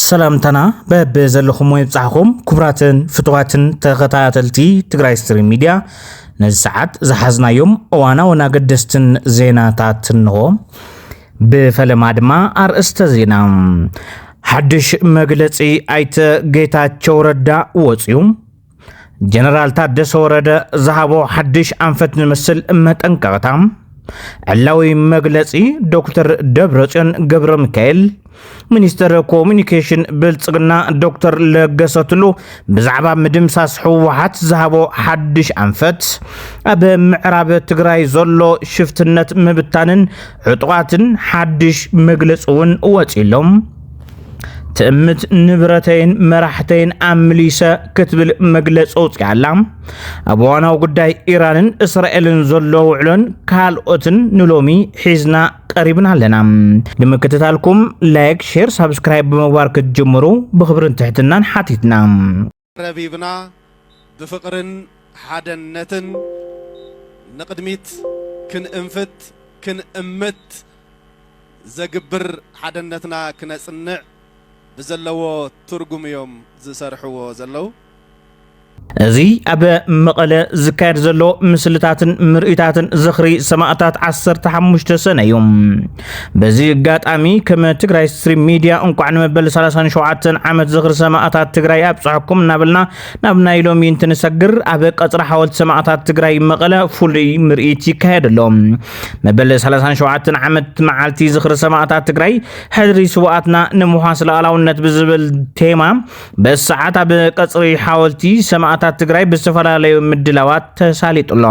ሰላምታና በብ ዘለኹም ወይ ብፃሕኹም ክቡራትን ፍትዋትን ተኸታተልቲ ትግራይ ስትሪም ሚድያ ነዚ ሰዓት ዝሓዝናዮም እዋናውን ኣገደስትን ዜናታት እንሆ። ብፈለማ ድማ ኣርእስተ ዜና ሓድሽ መግለፂ ኣይተ ጌታቸው ረዳ ወፅዩ። ጀነራል ታደሰ ወረደ ዝሃቦ ሓድሽ ኣንፈት ዝመስል መጠንቀቕታ ዕላዊ መግለጺ ዶክተር ደብረጽዮን ገብረ ሚካኤል ሚኒስትር ኮሚኒኬሽን ብልጽግና ዶክተር ለገሰ ቱሉ ብዛዕባ ምድምሳስ ህወሓት ዝሃቦ ሓድሽ ኣንፈት ኣብ ምዕራብ ትግራይ ዘሎ ሽፍትነት ምብታንን ዕጡቓትን ሓድሽ መግለፂ እውን ወፂሎም ትእምት ንብረተይን መራሕተይን ኣምሊሰ ክትብል መግለፂ ኣውፅኣ ኣላ ኣብ ዋናዊ ጉዳይ ኢራንን እስራኤልን ዘሎ ውዕሎን ካልኦትን ንሎሚ ሒዝና ቀሪብና ኣለና ንምክትታልኩም ላይክ ሼር ሳብስክራይብ ብምግባር ክትጅምሩ ብክብርን ትሕትናን ሓቲትና ረቢብና ብፍቕርን ሓደነትን ንቕድሚት ክንእንፍት ክንእምት ዘግብር ሓደነትና ክነጽንዕ ብዘለዎ ትርጉም'ዮም ዝሰርሕዎ ዘለዉ። እዚ ኣብ መቐለ ዝካየድ ዘሎ ምስልታትን ምርእታትን ዝኽሪ ሰማእታት ዓሰርተ ሓሙሽተ ሰነ'ዩ። በዚ ኣጋጣሚ ከም ትግራይ ስትሪም ሚድያ እንቋዕ ንመበል 37 ዓመት ዝኽሪ ሰማእታት ትግራይ ኣብፀሐኩም እናበልና ናብ ናይ ሎሚ እንትንሰግር ኣብ ቀፅሪ ሓወልቲ ሰማእታት ትግራይ መቐለ ፍሉይ ምርኢት ይካየድ ኣሎ። መበል 37 ዓመት መዓልቲ ዝኽሪ ሰማእታት ትግራይ ሕድሪ ስውኣትና ንምውሓስ ሉኣላውነት ብዝብል ቴማ በሰዓት ኣብ ቀጽሪ ሓወልቲ ሰማእታት ትግራይ ብዝተፈላለዩ ምድላዋት ተሳሊጡ ኣሎ።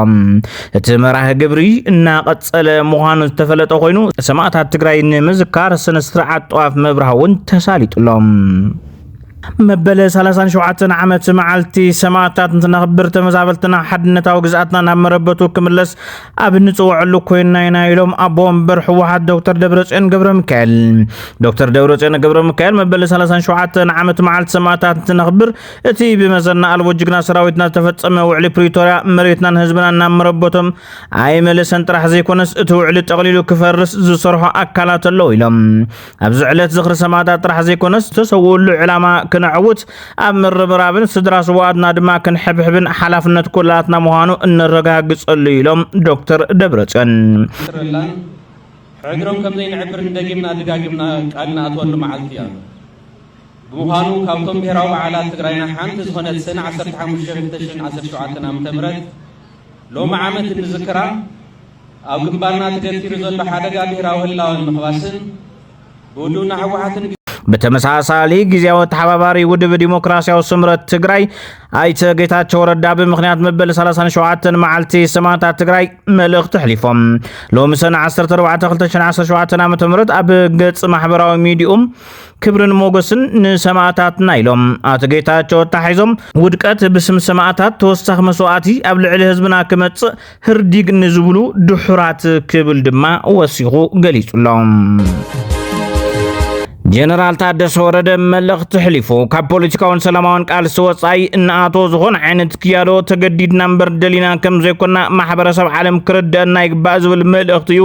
እቲ መራህ ግብሪ እናቐጸለ ምዃኑ ዝተፈለጠ ኮይኑ ሰማእታት ትግራይ ንምዝካር ስነ ስርዓት ጠዋፍ ምብራህ እውን ተሳሊጡ ኣሎ። መበለ 37 ዓመት መዓልቲ ሰማእታት እንትነኽብር ተመዛበልትና ሓድነታዊ ግዝኣትና ናብ መረበቱ ክምለስ ኣብ እንፅወዐሉ ኮይንና ኢና ኢሎም ኣቦ ወንበር ህወሓት ዶክተር ደብረፅዮን ገብረሚካኤል። ዶክተር ደብረፅዮን ገብረሚካኤል መበል 37 ዓመት መዓልቲ ሰማእታት እንትነኽብር እቲ ብመዘና ኣልቦ ጅግና ሰራዊትና ዝተፈፀመ ውዕሊ ፕሪቶርያ መሬትናን ህዝብናን ናብ መረበቶም ኣይመለሰን ጥራሕ ዘይኮነስ እቲ ውዕሊ ጠቕሊሉ ክፈርስ ዝሰርሖ ኣካላት ኣለዉ ኢሎም። ኣብዚ ዕለት ዝኽሪ ሰማእታት ጥራሕ ዘይኮነስ ዝተሰውኡሉ ዕላማ ክነዕውት ኣብ ምርብራብን ስድራ ስዋኣትና ድማ ክንሕብሕብን ሓላፍነት ኩላትና ምዃኑ እነረጋግጸሉ ኢሎም ዶክተር ደብረጽዮን። ሕድሮም ከም ዘይንዕብርን ደጊምና ድጋጊምና ቃል ንኣትወሉ መዓልቲ እያ። ብምዃኑ ካብቶም ብሔራዊ በዓላት ትግራይና ሓንቲ ዝኾነት ሰነ 15 2017 ዓ ም ሎሚ ዓመት እንዝክራ ኣብ ግንባርና ተገቲሩ ዘሎ ሓደጋ ብሄራዊ ህላወ ንምኽባስን ብህልውና ህወሓትን ብተመሳሳሊ ግዜያዊ ተሓባባሪ ውድብ ዲሞክራሲያዊ ስምረት ትግራይ ኣይተ ጌታቸው ረዳ ብምክንያት መበል 37 መዓልቲ ሰማዕታት ትግራይ መልእኽቲ ኣሕሊፎም ሎሚ ሰነ 14/2017 ዓ ም ኣብ ገጽ ማሕበራዊ ሚዲኡ ክብርን ሞገስን ንሰማእታትና ኢሎም ኣቶ ጌታቸው ኣታሒዞም ውድቀት ብስም ሰማእታት ተወሳኺ መስዋእቲ ኣብ ልዕሊ ህዝብና ክመጽእ ህርዲግ ንዝብሉ ድሑራት ክብል ድማ ወሲኹ ገሊጹሎም። ጀነራል ታደሰ ወረደ መልእኽቲ ሕሊፉ ካብ ፖለቲካውን ሰላማውን ቃልሲ ወፃኢ እናኣቶ ዝኾነ ዓይነት ክያዶ ተገዲድና እምበር ደሊና ከም ዘይኮና ማሕበረሰብ ዓለም ክርደአና ይግባእ ዝብል መልእኽቲ እዩ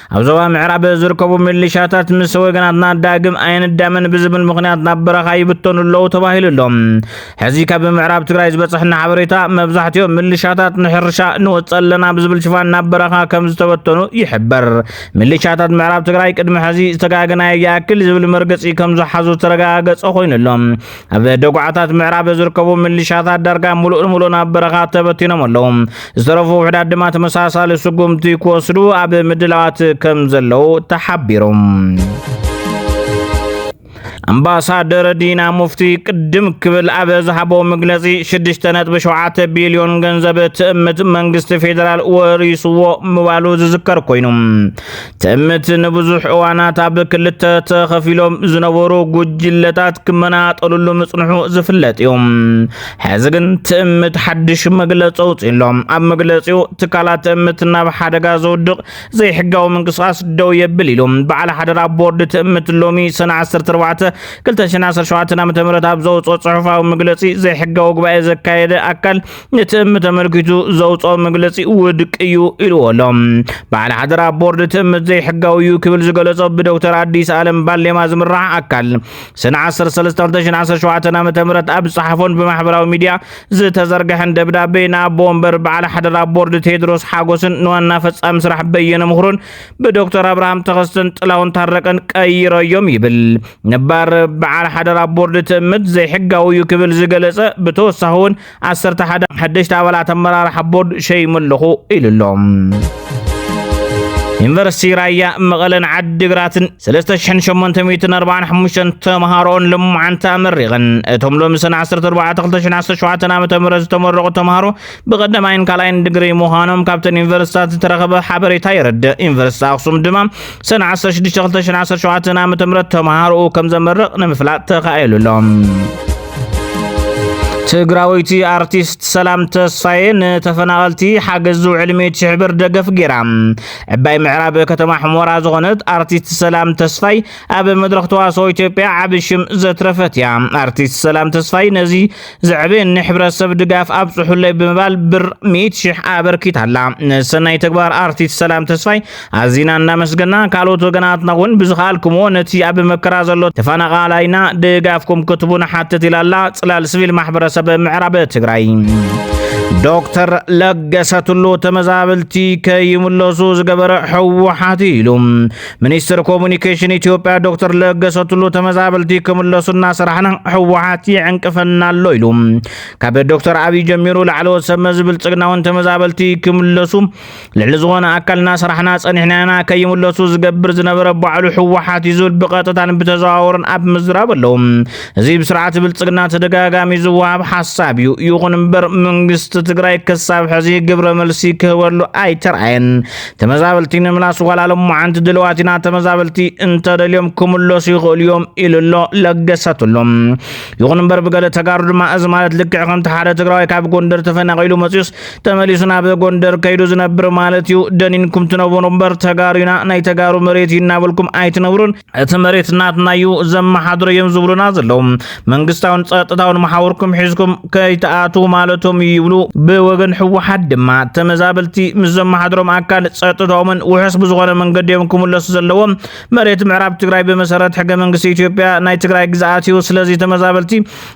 ኣብ ዞባ ምዕራብ ዝርከቡ ሚሊሻታት ምስ ወገናትና ዳግም ኣይንዳመን ብዝብል ምክንያት ናብ በረኻ ይብተኑ ኣለዉ ተባሂሉ ኣሎ። ሕዚ ካብ ምዕራብ ትግራይ ዝበፅሐና ሓበሬታ መብዛሕትኦም ሚሊሻታት ንሕርሻ ንወፅእ ኣለና ብዝብል ሽፋን ናብ በረኻ ከም ዝተበተኑ ይሕበር። ሚሊሻታት ምዕራብ ትግራይ ቅድሚ ሕዚ ዝተጋገናዮ ይኣክል ዝብል መርገፂ ከም ዝሓዙ ዝተረጋገፀ ኮይኑ ኣሎ። ኣብ ደጉዓታት ምዕራብ ዝርከቡ ምልሻታት ዳርጋ ሙሉእ ንሙሉእ ናብ በረኻ ተበቲኖም ኣለዉ። ዝተረፉ ውሕዳት ድማ ተመሳሳሊ ስጉምቲ ክወስዱ ኣብ ምድላዋት ከም ዘለዉ ተሓቢሩ። ኣምባሳደር ዲና ሙፍቲ ቅድም ክብል ኣብ ዝሃቦ መግለጺ 6.7 ቢልዮን ገንዘብ ትእምት መንግስቲ ፌዴራል ወሪስዎ ምባሉ ዝዝከር ኮይኑ ትእምት ንብዙሕ እዋናት ኣብ ክልተ ተኸፊሎም ዝነበሩ ጉጅለታት ክመናጠልሉ ምጽንሑ ዝፍለጥ እዩ ሕዚ ግን ትእምት ሓድሽ መግለፂ ኣውፅሎም ኣብ መግለፂኡ ትካላት ትእምት ናብ ሓደጋ ዘውድቕ ዘይሕጋዊ ምንቅስቓስ ደው የብል ኢሉ በዓል ሓደራ ቦርድ ትእምት ሎሚ ሰነ 14 2017 ዓ ም ኣብ ዘውፅኦ ፅሑፋዊ መግለፂ ዘይሕጋዊ ጉባኤ ዘካየደ ኣካል እቲ እም ተመልኪቱ ዘውፅኦ መግለፂ ውድቅ እዩ ኢልዎ ኣሎ። በዓል ሓደራ ቦርድ እቲ እም ዘይሕጋዊ እዩ ክብል ዝገለጾ ብዶክተር ኣዲስ ኣለም ባሌማ ዝምራሕ ኣካል ሰነ 13/2017 ዓ ም ኣብ ዝፀሓፎን ብማሕበራዊ ሚዲያ ዝተዘርግሐን ደብዳቤ ንኣቦ ወንበር በዓል ሓደራ ቦርድ ቴድሮስ ሓጎስን ንዋና ፈጻሚ ስራሕ በየነ ምክሩን ብዶክተር ኣብርሃም ተኸስተን ጥላውን ታረቀን ቀይረዮም ይብል ነባር በዓል ሓደራ ቦርድ ትእምት ዘይሕጋዊ እዩ ክብል ዝገለጸ ብተወሳኺ እውን ዓሰርተ ሓደ ሓደሽቲ ኣባላት ኣመራርሓ ቦርድ ሸይሙ ኣለኹ ኢሉ ኣሎ። ዩኒቨርሲቲ ራያ መቐለን ዓዲግራትን 3845 ተምሃሮን ልሙዓንታ ኣመሪቐን እቶም ሎሚ ሰነ 14 2017 ዓ ም ዝተመረቑ ተምሃሮ ብቐዳማይን ካልኣይን ድግሪ ምዃኖም ካብተን ዩኒቨርሲታት ዝተረኸበ ሓበሬታ የረድእ ዩኒቨርሲቲ ኣክሱም ድማ ሰነ 16 2017 ዓ.ም ተምሃሮኡ ከም ዘመርቕ ንምፍላጥ ተኻኢሉ ኣሎ። ትግራወይቲ ኣርቲስት ሰላም ተስፋዬ ንተፈናቐልቲ ሓገዝ ዝውዕል ሚእቲ ሽሕ ብር ደገፍ ጌራ። ዕባይ ምዕራብ ከተማ ሕሞራ ዝኾነት ኣርቲስት ሰላም ተስፋይ ኣብ መድረኽ ተዋስኦ ኢትዮጵያ ዓቢ ሽም ዘትረፈት እያ። ኣርቲስት ሰላም ተስፋይ ነዚ ዘዕብን ንሕብረተሰብ ድጋፍ ኣብፅሑለይ ብምባል ብር ሚእቲ ሽሕ ኣበርኪታላ። ንሰናይ ተግባር ኣርቲስት ሰላም ተስፋይ ኣዚና እናመስገና ካልኦት ወገናትና እውን ብዝኸኣልኩምዎ ነቲ ኣብ መከራ ዘሎ ተፈናቓላይና ድጋፍኩም ክትቡ ንሓትት ኢላላ ፅላል ስቪል ማሕበረሰብ ምዕራብ ትግራይ። ዶክተር ለገሰ ቱሉ ተመዛበልቲ ከይምለሱ ዝገበረ ህወሓት ኢሉ ሚኒስትር ኮሙኒኬሽን ኢትዮጵያ ዶክተር ለገሰ ቱሉ ተመዛበልቲ ክምለሱ እናሰራሕና ህወሓት ይዕንቅፈና ኣሎ ኢሉ። ካብ ዶክተር ኣብይ ጀሚሩ ላዕለዎት ሰብ መዚ ብልፅግና እውን ተመዛበልቲ ክምለሱ ልዕሊ ዝኾነ ኣካል እናሰራሕና ፀኒሕና ኢና፣ ከይምለሱ ዝገብር ዝነበረ ባዕሉ ህወሓት እዩ ዝብል ብቐጥታን ብተዘዋወርን ኣብ ምዝራብ ኣለዉ። እዚ ብስርዓት ብልፅግና ተደጋጋሚ ዝወሃብ ሓሳብ እዩ። ይኹን እምበር መንግስቲ ትግራይ ክሳብ ሕዚ ግብረ መልሲ ክህበሉ ኣይተርኣየን። ተመዛበልቲ ንምላስ ዋላ ሎማዓንቲ ድልዋት ኢና ተመዛበልቲ እንተደልዮም ክምለሱ ይኽእሉ እዮም ኢሉ ኣሎ ለገሰትሎም ይኹን እምበር ብገለ ተጋሩ ድማ እዚ ማለት ልክዕ ከምቲ ሓደ ትግራዋይ ካብ ጎንደር ተፈናቂሉ መፅዩስ ተመሊሱ ናብ ጎንደር ከይዱ ዝነብር ማለት እዩ ደኒንኩም ትነብሩ እምበር ተጋሩ ኢና ናይ ተጋሩ መሬት እዩ እናበልኩም ኣይትነብሩን እቲ መሬት ናትና እዩ ዘመሓድሮ እዮም ዝብሉና ዘለዉ መንግስታውን ጸጥታውን መሓውርኩም ሒዝኩም ከይትኣትዉ ማለቶም እዩ ይብሉ። ብወገን ህወሓት ድማ ተመዛበልቲ ምስ ዘመሓድሮም ኣካል ጸጥታኦምን ውሑስ ብዝኾነ መንገዲ እዮም ክምለሱ ዘለዎም። መሬት ምዕራብ ትግራይ ብመሰረት ሕገ መንግስቲ ኢትዮጵያ ናይ ትግራይ ግዝኣት እዩ። ስለዚ ተመዛበልቲ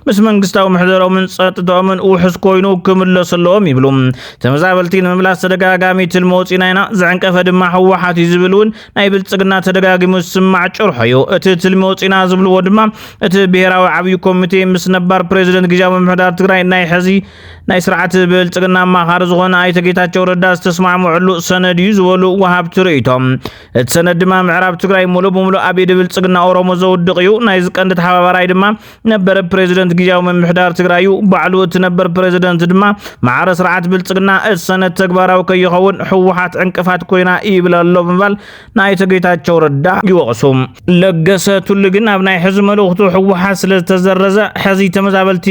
ምስ መንግስታዊ ምሕደሮምን ጸጥታኦምን ውሑስ ኮይኑ ክምለሱ ኣለዎም ይብሉ። ተመዛበልቲ ንምምላስ ተደጋጋሚ ትልሚ ወፂና ኢና፣ ዘዕንቀፈ ድማ ህወሓት እዩ ዝብል እውን ናይ ብልጽግና ተደጋጊሙ ዝስማዕ ጭርሖ እዩ። እቲ ትልሚ ወፂና ዝብልዎ ድማ እቲ ብሄራዊ ዓብዩ ኮሚቴ ምስ ነባር ፕሬዚደንት ግዜያዊ ምምሕዳር ትግራይ ናይ ሕዚ ናይ ስርዓት ብልጽግና ኣማኻሪ ዝኾነ ኣይተ ጌታቸው ረዳ ዝተስማዕምዕሉ ሰነድ እዩ ዝበሉ ወሃብቲ ርእይቶ። እቲ ሰነድ ድማ ምዕራብ ትግራይ ሙሉእ ብሙሉእ ኣብ ኢድ ብልጽግና ኦሮሞ ዘውድቕ እዩ። ናይዚ ቀንዲ ተሓባባራይ ድማ ነበር ፕሬዚደንት ግዜያዊ ምምሕዳር ትግራዩ ባዕሉ እቲ ነበር ፕሬዚደንት ድማ ማዕረ ስርዓት ብልፅግና እቲ ሰነድ ተግባራዊ ከይኸውን ህወሓት ዕንቅፋት ኮይና ይብል ኣሎ ብምባል ናይቶ ጌታቸው ረዳ ይወቕሱ። ለገሰ ቱሉ ግን ኣብ ናይ ሕዚ መልእኽቱ ህወሓት ስለ ዝተዘረዘ ሕዚ ተመዛበልቲ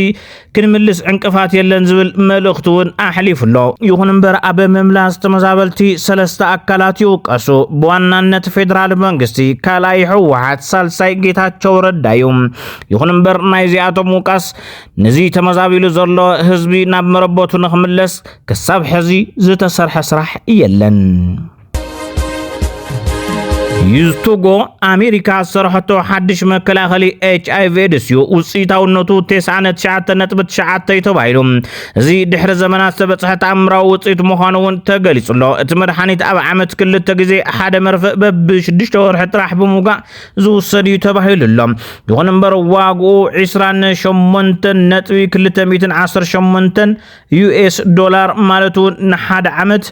ክንምልስ ዕንቅፋት የለን ዝብል መልእኽቲ እውን ኣሕሊፉ ኣሎ። ይኹን እምበር ኣብ ምምላስ ተመዛበልቲ ሰለስተ ኣካላት ይውቀሱ። ብዋናነት ፌዴራል መንግስቲ፣ ካልኣይ ህወሓት ሳልሳይ ጌታቸው ረዳ እዩ ይኹን እምበር ናይዚኣቶም ውቃስ ነዚ ተመዛቢሉ ዘሎ ህዝቢ ናብ መረበቱ ንክምለስ ክሳብ ሕዚ ዝተሰርሐ ስራሕ የለን ዩዝቱጎ ኣሜሪካ ዝሰርሐቶ ሓድሽ መከላኸሊ ኤች ኣይቪ ኤድስ እዩ ውፅኢታውነቱ 99.9 ተባሂሉ እዚ ድሕሪ ዘመናት ዝተበጽሐ ተኣምራዊ ውጽኢት ምዃኑ እውን ተገሊጹ ኣሎ። እቲ መድሓኒት ኣብ ዓመት ክልተ ግዜ ሓደ መርፍእ በቢ ሽዱሽተ ወርሒ ጥራሕ ብምውጋእ ዝውሰድ እዩ ተባሂሉ ኣሎ። ይኹን እምበር ዋግኡ ዒስራን ሸሞንተን ነጥቢ ክልተ ሚእትን ዓሰርተ ሸሞንተን ዩኤስ ዶላር ማለት እውን ንሓደ ዓመት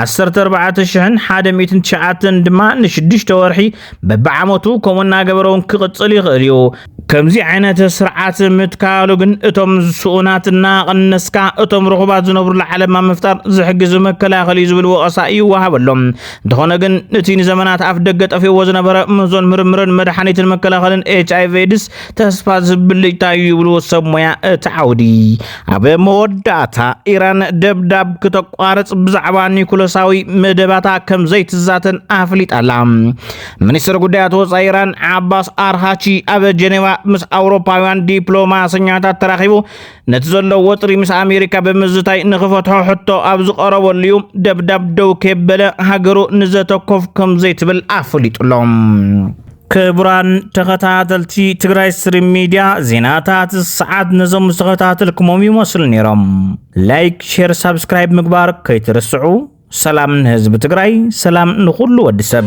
ዓሰርተ ኣርባዕተ ሽሕን ሓደ ሚእትን ትሽዓተን ድማ ንሽዱሽተ ወርሒ በብዓመቱ ከምኡ እናገበረ እውን ክቕፅል ይኽእል እዩ ከምዚ ዓይነት ስርዓት ምትካሉ ግን እቶም ስኡናት እናቐነስካ እቶም ርኹባት ዝነብሩሉ ዓለማ ምፍጣር ዝሕግዝ መከላኸል እዩ ዝብል ወቐሳ ይወሃበሎም እንተኾነ ግን እቲ ንዘመናት ኣፍ ደገ ጠፊእዎ ዝነበረ ምዞን ምርምርን መድሓኒትን መከላኸልን ኤች ኣይቪ ኤድስ ተስፋ ዝብልጭታ እዩ ይብሉ ሰብ ሞያ እቲ ዓውዲ ኣብ መወዳእታ ኢራን ደብዳብ ክተቋርጽ ብዛዕባ ኒኩለሳዊ መደባታ ከም ዘይትዛተን ኣፍሊጣ ኣላ ሚኒስትር ጉዳያት ወፃኢ ኢራን ዓባስ ኣርሃቺ ኣብ ጀኔቫ ምስ ኣውሮፓውያን ዲፕሎማሰኛታት ተራኺቡ ነቲ ዘሎ ወጥሪ ምስ ኣሜሪካ ብምዝታይ ንኽፈትሖ ሕቶ ኣብ ዝቐረበሉ እዩ ደብዳብ ደው ከበለ ሃገሩ ንዘተኮፍ ከም ዘይትብል ኣፍሊጡሎም ክቡራን ተኸታተልቲ ትግራይ ስትሪም ሚድያ ዜናታት ሰዓት ነዞም ዝተኸታተልኩሞም ይመስሉ ነይሮም። ላይክ፣ ሼር፣ ሳብስክራይብ ምግባር ከይትርስዑ። ሰላም ንህዝቢ ትግራይ፣ ሰላም ንኹሉ ወዲ ሰብ።